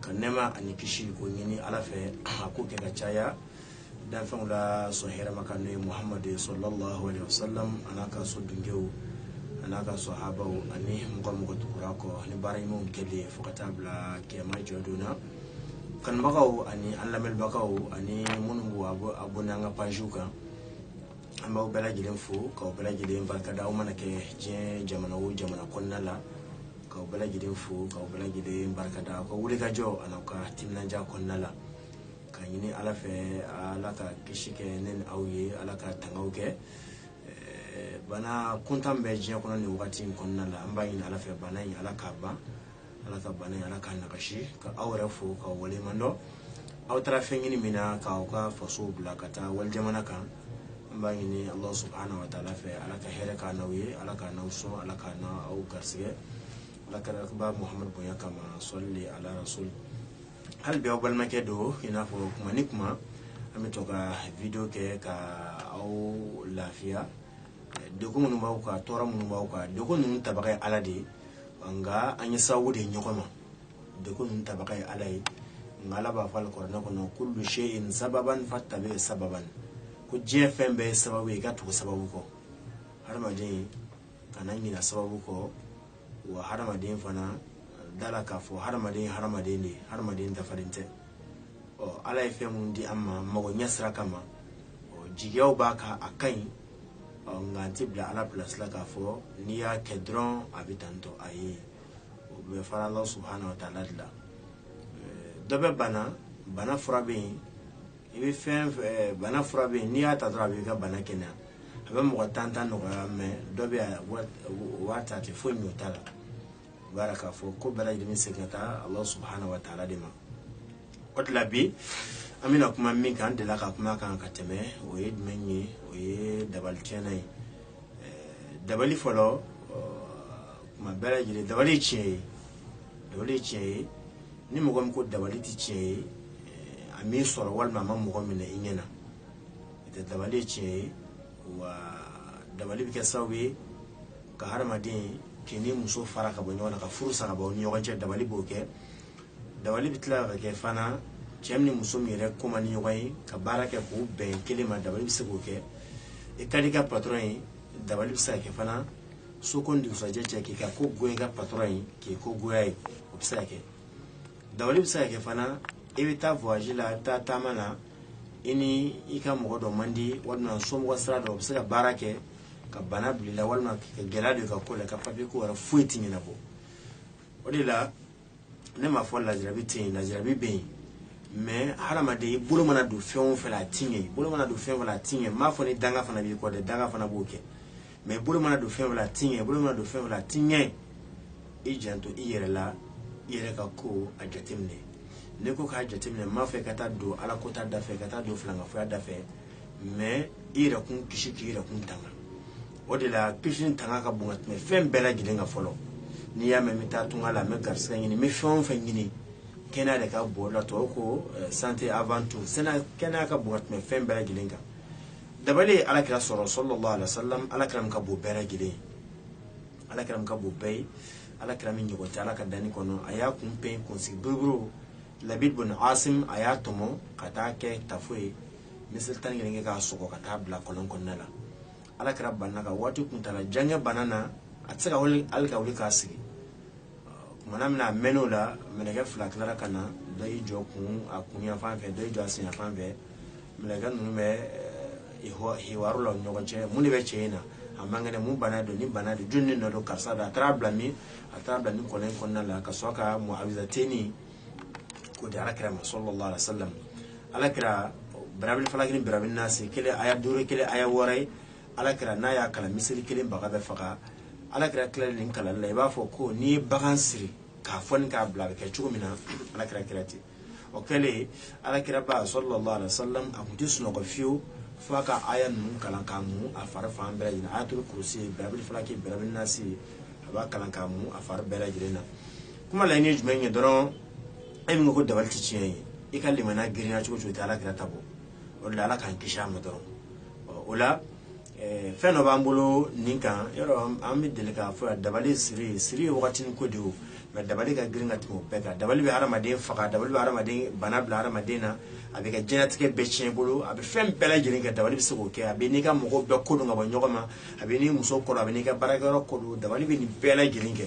ka nɛma ani kisi ko ɲini ala fɛ a k'o kɛ ka caya danfɛnw la sɔn hɛrɛma kan n'o ye muhamadu salalahu alayhi wa sallam an'a ka so dunkew an'a ka sahabaw ani mɔgɔ mɔgɔ tugura u kɔ ni baara ɲumanw kɛlen fo ka taa bila kiyama jɔ don na kanubagaw ani an lamɛnbagaw ani minnu b'u abonné an ka pajiw kan an b'aw bɛɛ lajɛlen fo k'aw bɛɛ lajɛlen barikada aw mana kɛ diɲɛ jamana o jamana kɔnɔna la k'aw bɛɛ lajɛlen fo k'aw bɛɛ lajɛlen barikada aw ka wulikajɔ an'aw ka timinanja kɔnɔna la ka ɲini ala fɛ ala ka kisi kɛ ne ni aw ye ala ka tangaw kɛ bana kuntan bɛ diɲɛ kɔnɔ nin wagati in kɔnɔna la an b'a ɲini ala fɛ bana in ala k'a ban ala ka bana ala k'a nagasi ka aw yɛrɛ fo k'aw waleɲuman dɔn aw taara fɛn ɲini min na k'aw ka faso bila ka taa wali jamana kan an b'a ɲini ala subahana wa taala fɛ ala ka hɛrɛ k'an n'aw ye ala k'an n'aw sɔn ala k'an n'aw garisɛgɛ ala kiraba muhamadu bonya kama sɔli ala rasulu habibi aw balimakɛ don i n'a fɔ kuma ni kuma an bɛ to ka vidiyo kɛ ka aw lafiya degun minnu b'aw kan tɔɔrɔ minnu b'aw kan degun ninnu tabaa ye ala de ye nka an ye sababu de ye ɲɔgɔn ma degun ninnu tabaga ye ala ye nka ala b'a fɔ ale kuranɛ kɔnɔ kulu seyin sababan fatabi'i sababan ko diɲɛ fɛn bɛɛ ye sababu ye i ka tugu sababu kɔ hadamaden kana ɲina sababu kɔ wa hadamaden fana da a la k'a fɔ hadamaden ye hadamaden de ye hadamaden dafalen tɛ ɔ ala ye fɛn minnu di an ma mago ɲɛ sira kama o jigiyaw b'a kan a ka ɲi nka an tɛ bila ala pilasi la k'a fɔ n'i y'a kɛ dɔrɔn a bɛ tan tɔ ayi o bɛ fara ala subahana wa taala de la dɔ bɛ bana bana fura bɛ yen i bɛ fɛn fɛn bana fura bɛ yen n'i y'a ta dɔrɔn a b'i ka bana kɛnɛya a bɛ mɔgɔ tan tan nɔgɔya mɛ dɔ bɛ yan o b'a ta a tɛ foyi ɲɛ o ta la b'a yira k'a fɔ ko bɛɛ lajɛlen bɛ segin ka taa ala subahana wa taala de ma o de la bi an bɛna kuma min kan an delila ka kuma a kan ka tɛmɛ o ye jumɛn ye o ye dabali tiɲɛnan ye dabali fɔlɔ kuma bɛɛ lajɛlen dabali ye tiɲɛ ye dabali ye tiɲɛ ye ni mɔgɔ min ko dabali tɛ tiɲɛ ye a m'i sɔrɔ walima a ma mɔgɔ minɛ i ɲɛ na dabali ye tiɲɛ ye wa dabali bɛ kɛ sababu ye ka hadamaden k'i ni muso fara ka bɔ ɲɔgɔn na ka furu sa ka bɔ ni ɲɔgɔn cɛ dabali b'o kɛ dabali bɛ tila ka kɛ fana cɛ min ni muso min yɛrɛ ko man di ɲɔgɔn ye ka baara kɛ k'u bɛn kelen ma dabali bɛ se k'o kɛ i ka di i ka patɔrɔn ye dabali bɛ se ka kɛ fana su ko ni dugusajɛ cɛ k'i ka ko goya i ka patɔrɔn ye k'i ko goya a ye o bɛ se ka kɛ dabali bɛ se ka kɛ fana i bɛ taa voyage la i bɛ taa taama na i ni i ka mɔgɔ dɔ man di walima somɔgɔ sira dɔ o bɛ se ka baara kɛ ka bana bila i la walima ka gɛlɛya don i ka ko la ka papiye ko wɛrɛ foyi tɛ ɲɛnabɔ o de la ne m'a fɔ lajarabi tɛ yen lajarabi bɛ yen mais hadamaden i bolo mana don fɛn o fɛn la a ti ɲɛ i bolo mana don fɛn o fɛn la a ti ɲɛ m'a fɔ ni danga fana b'i kɔ dɛ danga fana b'o kɛ mais i bolo mana don fɛn o fɛn la a ti ɲɛ i bolo mana don fɛn o fɛn la a ti ɲɛ i janto i yɛrɛ la i yɛrɛ ka ko a jateminɛ ne ko k'a jateminɛ m'a fɛ ka taa don ala kota da fɛ ka taa don filankafoya da fɛ mais i yɛrɛ kun kisi k'i yɛrɛ kun tanga o de la kisi ni tanga ka bon ka tɛmɛ fɛn bɛɛ lajɛlen kan fɔlɔ n'i y'a mɛn n bɛ taa tunga la n bɛ garisigɛ ɲini n bɛ fɛn o fɛn ɲini kɛnɛya de ka bon o la tubabu ko eh, santé avant tout sɛnɛ kɛnɛya ka bon ka tɛmɛ fɛn bɛɛ lajɛlen kan dabali ye ala kira sɔrɔ sallallahu alaihi wasallam ala kira min ka bon bɛɛ lajɛlen ye ala kira min ka bon bɛɛ ye ala kira min ɲɔgɔn tɛ ala ka danni kɔnɔ a y'a kun pɛɲɛ kunsigi buruburu labid bun asim a y'a tɔmɔ ka taa kɛ tafo ye miseli tan ni kelen kɛ k'a sɔgɔ ka taa bila kɔlɔn kɔnɔna la ala kira banana ka waati kuntaala jan kɛ bana na a tɛ se ka wuli hali ka wuli k'a sigi kumana min na a mɛn'o la mɛlɛkɛ fila tilara ka na dɔ y'i jɔ kun a kun yanfan fɛ dɔ y'i jɔ a sen yanfan fɛ mɛlɛkɛ ninnu bɛ hiwaru la ɲɔgɔn cɛ mun de bɛ cɛ in na a man kɛnɛ mun bana don ni bana don jɔni de nɔ don karisa don a taara bila min a taara bila min kɔlɔn in kɔnɔna la ka sɔrɔ ka muawizateni k'o di ala kira ma sallallahu alaihi wasallam ala kira birabil falaki ni birabil nasi kelen aya duuru kelen aya wɔɔrɔ ye ala kira n'a y'a kalan miseli kelen baga bɛ faga ala kira tilalen nin kalanni la i b'a fɔ ko n'i ye bagan siri k'a foni k'a bila a bɛ kɛ cogo min na ala kira kɛra ten o kɛlen ala kira ba sallallahu alaihi wasallam a tun tɛ sunɔgɔ fiyewu fo a ka aya ninnu kalan k'a mu a fari fan bɛɛ lajɛlen ayatul kursi birabil falaki birabil nasi a b'a kalan k'a mu a fari bɛɛ lajɛlen na kuma laɲini ye jumɛn ye dɔrɔn e min ko dabali tɛ tiɲɛ ye i ka limaniya girinya cogo o cogo i tɛ ala kira ta bɔ o de la ala k'an kisi a ma dɔrɔn o la fɛn dɔ b'an bolo nin kan yɔrɔ an bɛ deli k'a fɔ dabali siri siri ye wagati ko de o nka dabali ka girin ka tɛmɛ o bɛɛ kan dabali bɛ hadamaden faga dabali bɛ hadamaden bana bila hadamaden na a b'i ka diɲɛlatigɛ bɛɛ tiɲɛ i bolo a bɛ fɛn bɛɛ lajɛlen kɛ dabali bɛ se k'o kɛ a b'i n'i ka mɔgɔw bɛɛ kɔ don ka bɔ ɲɔgɔn ma a b'i n'i muso kɔ don a b'i n'i ka baarakɛyɔrɔ kɔ don dabali bɛ nin bɛɛ lajɛlen kɛ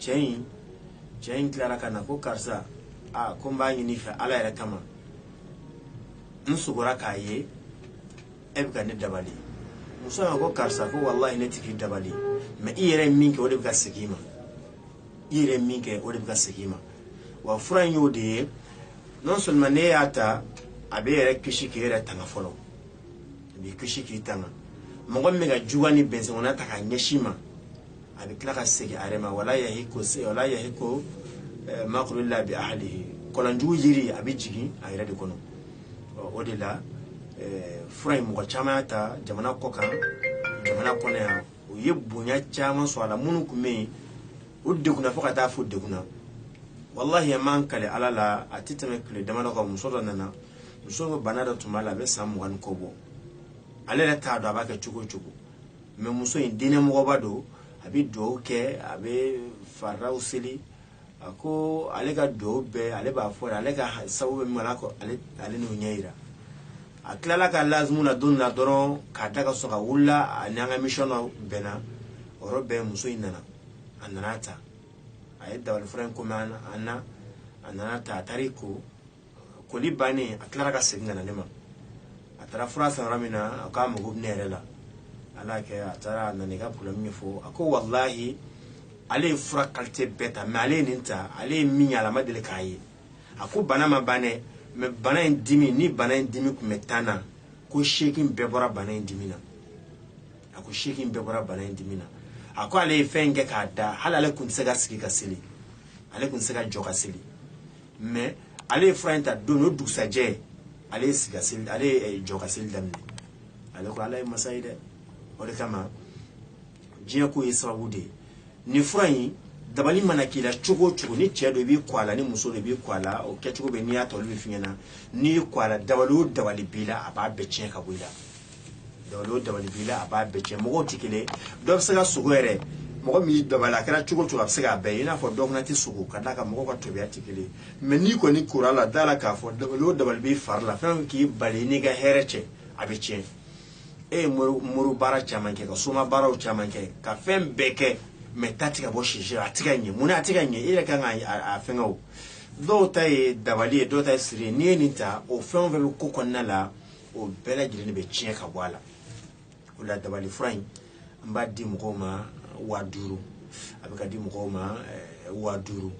cɛ in cɛ in tilara ka na ko karisa a ko n b'a ɲini i fɛ ala yɛrɛ kama n sogora k'a ye e bɛ ka ne dabali muso ko karisa ko walayi ne tɛ k'i dabali mais i yɛrɛ ye min kɛ o de bɛ ka segin i ma i yɛrɛ ye min kɛ o de bɛ ka segin i ma wa fura in y'o de ye non seulement n'e y'a ta a b'e yɛrɛ kisi k'e yɛrɛ tanga fɔlɔ a b'i kisi k'i tanga mɔgɔ min bɛ ka juguya ni bɛnsɛnkɔnɔya ta k'a ɲɛsin i ma a bɛ tila ka segin a yɛrɛ ma wala yahiku se wala yahiku eh, makuru ila bi ahalihi kɔlɔn jugu yiri a bɛ jigin a yɛrɛ de kɔnɔ o de la eh, fura in mɔgɔ caman y'a ta jamana kɔ kan jamana kɔnɔ yan u ye bonya caman sɔrɔ a la minnu tun bɛ yen u degunna fo ka taa fo u degunna walahi an b'an kali ala la a tɛ tɛmɛ tile damadɔ kan muso dɔ nana muso ko bana dɔ tun b'a la a bɛ san mugan ni kɔ bɔ ale yɛrɛ t'a dɔn a b'a kɛ cogo cogo mais muso in diinɛ mɔgɔba don a bɛ dugawu kɛ a bɛ faridaw seli a ko ale ka dugawu bɛɛ ale b'a fɔ ale ka sababu bɛ min na ko ale n'o ɲɛ jira a tilala a ka lazimu na don na dɔrɔn k'a da ka sɔrɔ a wulila a n'an ka émission na bɛnna o yɔrɔ bɛɛ muso in nana a nana a ta a ye dabali fura in commande a nana a ta a taara i ko koli bannen a tilara ka segin ka na ne ma a taara fura san yɔrɔ min na a k'a mago bɛ ne yɛrɛ la ala kɛ a taara a nana i ka problème ɲɛfɔ a ko walahi ale ye fura qualité bɛɛ ta mais ale ye nin ta ale ye min ye a la a ma deli k'a ye a ko bana ma ban dɛ mais bana in dimi ni bana in dimi tun bɛ tan na a ko seegin bɛɛ bɔra bana in dimi na a ko seegin bɛɛ bɔra bana in dimi na a ko ale ye fɛn in kɛ k'a da hali ale tun tɛ se ka sigi ka seli ale tun tɛ se ka jɔ ka seli mais ale ye fura in ta don o dugusajɛ ale ye sigi ka seli ale ye eh, jɔ ka seli daminɛ ale ko ala ye masa ye dɛ o de kama diɲɛ ko ye sababu de ye nin fura in dabali mana k'i la cogo o cogo ni cɛ don i b'i ko a la ni muso don i b'i ko a la o kɛcogo bɛ n'i y'a tɔlu bɛ fiɲɛ na n'i y'i ko a la dabali o dabali b'i la a b'a bɛɛ tiɲɛ ka bɔ i la dabali o dabali b'i la a b'a bɛɛ tiɲɛ mɔgɔw tɛ kelen dɔ bɛ se ka sogo yɛrɛ mɔgɔ min y'i dabali a kɛra cogo cogo a bɛ se k'a bɛɛ ye i n'a fɔ dɔ fana tɛ sogo ka d'a kan mɔgɔw ka tabiya tɛ kelen ye mais n'i kɔni kora a la da a la k'a fɔ dabali o dabali b'i fari la fo k'i bali n'i ka hɛrɛ cɛ a bɛ tiɲɛ e ye mori baara caman kɛ ka soma baaraw caman kɛ ka fɛn bɛɛ kɛ mais ta tɛ ka bɔ sisi ɲɛ a tɛ ka ɲɛ mun na a tɛ ka ɲɛ e yɛrɛ kan ka a fɛnkɛ o dɔw ta ye dabali ye dɔw ta ye siri ye n'i ye nin ta o fɛn o fɛn bɛ ko kɔnɔna la o bɛɛ lajɛlen de bɛ tiɲɛ ka bɔ a la o la dabali fura in an b'a di mɔgɔw ma waa duuru a bɛ ka di mɔgɔw ma eh, waa duuru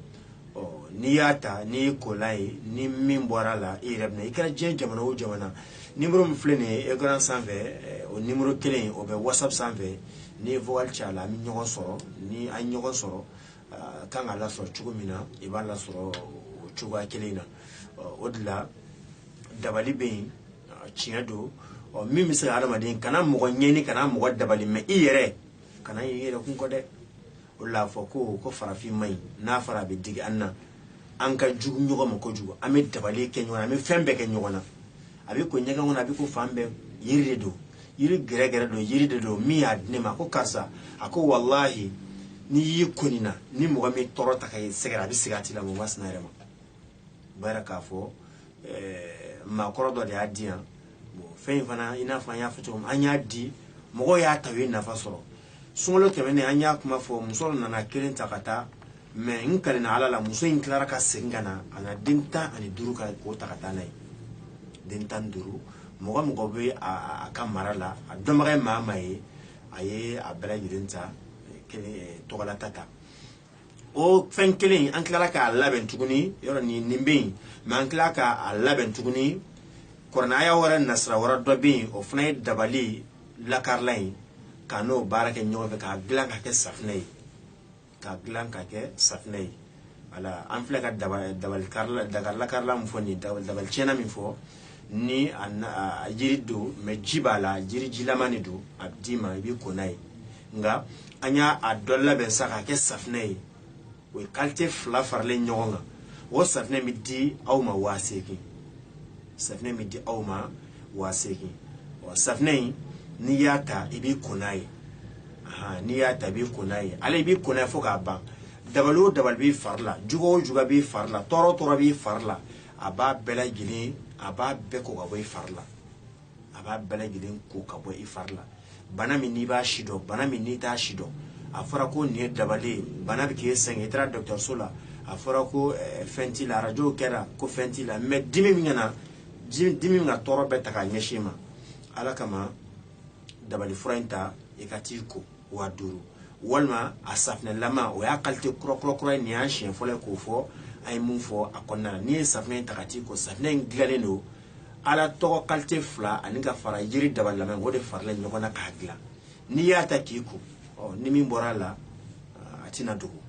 n'i y'a ta n'i y'i ko a la ni min bɔra a la i yɛrɛ bɛ na i kɛra diɲɛ jamana o jamana nimero min filɛ nin ye ekran sanfɛ eh, o nimero kelen o bɛ whatsapp sanfɛ n'i ye vocal ci a la an bɛ ɲɔgɔn sɔrɔ ni an ye ɲɔgɔn sɔrɔ a kan ka lasɔrɔ cogo min na i b'a lasɔrɔ o cogoya kelen na o de la dabali bɛ yen tiɲɛ don ɔ min bɛ se ka hadamaden kana mɔgɔ ɲɛni kana mɔgɔ dabali mɛ i yɛrɛ kana i yɛrɛ kun kɔ dɛ o la fɔ ko ko farafin man ɲi n'a fɔra a bɛ digi an na an ka jugu ɲɔgɔn ma kojugu an bɛ dabali kɛ ɲɔgɔn na an bɛ fɛn bɛɛ kɛ ɲɔgɔn na a bɛ ko ɲɛgɛn kɔnɔ a bɛ ko fan bɛɛ yiri de don yiri gɛrɛgɛrɛ don yiri de don min y'a di ne ma ko karisa a ko walahi n'i y'i ko nin na ni mɔgɔ min tɔɔrɔ ta ka i sɛgɛrɛ a bɛ segin a tigi la mɔgɔ masina yɛrɛ ma u b'a k'a fɔ eh, maakɔrɔ dɔ de y'a di yan fɛn in fana i n'a fɔ an y'a fɔ cogo min an y'a di mɔgɔw y'a ta u ye nafa sɔrɔ sunkalo tɛmɛnen an y'a kuma fɔ muso nana kelen ta ka taa mɛ n kalenna ala la muso in tilara ka segin ka na a na den tan ani duuru ka k'o ta ka taa n'a ye den tan ni duuru mɔgɔ o mɔgɔ bɛ a ka mara la a dɔnbaga ye maa maa ye a ye a bɛɛ lajɛlen ta kelen tɔgɔlata ta o fɛn kelen in an tilala k'a labɛn tuguni yɔrɔ nin nin bɛ yen mɛ an tilala k'a labɛn tuguni kuranɛ aya wɛrɛ nasira wɛrɛ dɔ bɛ yen o fana ye dabali lakarila ye ka n'o baara kɛ ɲɔgɔn fɛ k'a dilan ka kɛ safinɛ ye k'a dilan ka kɛ safinɛ ye wala an filɛ ka dabali dabali karila dabali lakarila min fɔ nin dabali dabali tiɲɛna min fɔ ni a na a jiri don mɛ ji b'a la jiri jilama de don a bɛ d'i ma i b'i ko n'a ye nka an y'a dɔ labɛn sa k'a kɛ safinɛ ye o ye kalite fila faralen ɲɔgɔn kan o safinɛ bɛ di aw ma waa seegin safinɛ bɛ di aw ma waa seegin ɔ safinɛ in n'i y'a ta i b'i ko n'a ye n'i y'a ta i b'i ko n'a ye ale i b'i ko n'a ye fo k'a ban dabali o dabali b'i fari la jugu o jugu b'i fari la tɔɔrɔ o tɔɔrɔ b'i fari la a b'a bɛɛ lajɛlen a b'a bɛɛ ko ka bɔ i fari la a b'a bɛɛ lajɛlen ko ka bɔ i fari la bana min n'i b'a si dɔn bana min n'i t'a si dɔn a fɔra ko nin ye dabali ye bana bɛ k'e sɛgɛn i taara dɔgɔtɔrɔso la a fɔra ko eh, fɛn t'i la arajow kɛra ko fɛn t'i la mɛ dimi bɛ ka na dimi bɛ ka tɔɔrɔ bɛɛ ta k'a ɲɛsin i ma ala kama dabali fura in ta i ka t'i ko waa duuru walima a safinɛlama o y'a kalite kura ye nin y'a siɲɛ fɔlɔ ye k'o fɔ an ye mun fɔ a kɔnɔna na n'i ye safinɛ in ta ka t'i ko safinɛ in dilannen don ala tɔgɔ kalite fila ani ka fara jiri daba lamɛn o de farala ɲɔgɔn na k'a dilan n'i y'a ta k'i ko ni min bɔra a la a tɛna dogo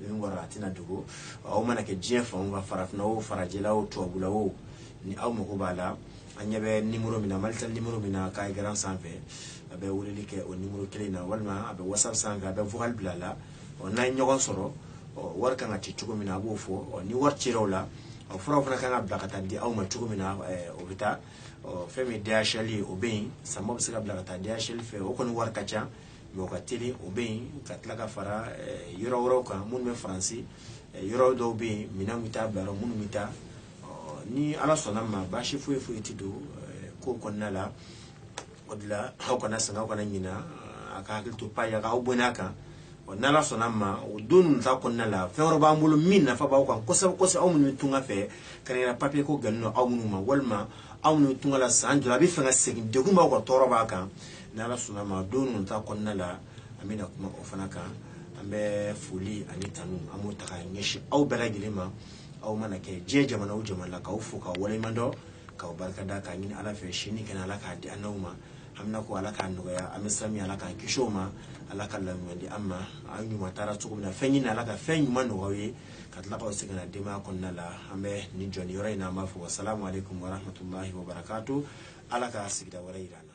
min bɔra a tɛna dogo aw mana kɛ diɲɛ fan ka farafinna o farajɛla o tubabula o ni aw mago b'a la aw ɲɛ bɛ nimɔrɔ min na mali ta nimɔrɔ min na ekran sanfɛ a bɛ weleli kɛ o nimɔrɔ kelen na walima a bɛ watisapu sanfɛ a bɛ vokali bila a la ɔ n'an ye ɲɔgɔn sɔrɔ ɔ wari kan ka ci cogo min na an b'o fɔ ɔ ni wari cira o la ɔ furaw fana kan ka bila ka taa di aw ma cogo min na o bɛ taa ɔ fɛn min dhl ye o bɛ yen samaw bɛ se ka bila ka taa dhl fɛ o kɔni wari ka ca mɛ o ka teli o bɛ yen ka tila ka fara yɔrɔ wɛrɛw kan minnu bɛ faransi yɔrɔ dɔw bɛ yen minɛn bɛ taa bila yɔrɔ minnu bɛ taa ni ala sɔnna ma baasi foyi foyi tɛ don ko kɔnɔna la o de la aw kana sɛgɛn aw kana ɲina a ka hakili to pazi la k'aw abɔne a kan ɔ n' ala sɔnna ma o don ninnu ta kɔnɔna la fɛn wɛrɛ b'an bolo min nafa b'aw kan kosɛbɛ kosɛbɛ aw minnu tunga fɛ kɛrɛnkɛrɛn papiye ko gɛlɛn don aw minnu ma walima aw minnu tunga la san joli a b'a fɛ ka segin degun b'aw kan tɔɔrɔ b'aw kan n' ala sɔnna ma don ninnu ta kɔnɔna la an bɛna kuma o fana kan an bɛ foli ani tanu an b'o ta ka ɲɛsin aw bɛɛ lajɛlen ma aw mana kɛ diɲɛ jamana o jamana la k'aw fo k'aw waleɲuman dɔn k'aw barika da k'a ɲini ala fɛ sini kɛnɛ ala k'a di an n'aw ma haminanko ala k'a nɔgɔya an bɛ sami ala k'an kisi o ma ala ka laban ɲuman di an ma aw ɲuman taara cogo min na fɛn ɲini ala ka fɛn ɲuman nɔgɔya aw ye ka tila k'aw segin aw denbaya kɔnɔna la an bɛ nin jɔ nin yɔrɔ in na an b'a fɔ wasalamu aleykum warahmatulahi wabarakatu ala ka sigida wɛrɛ yira an na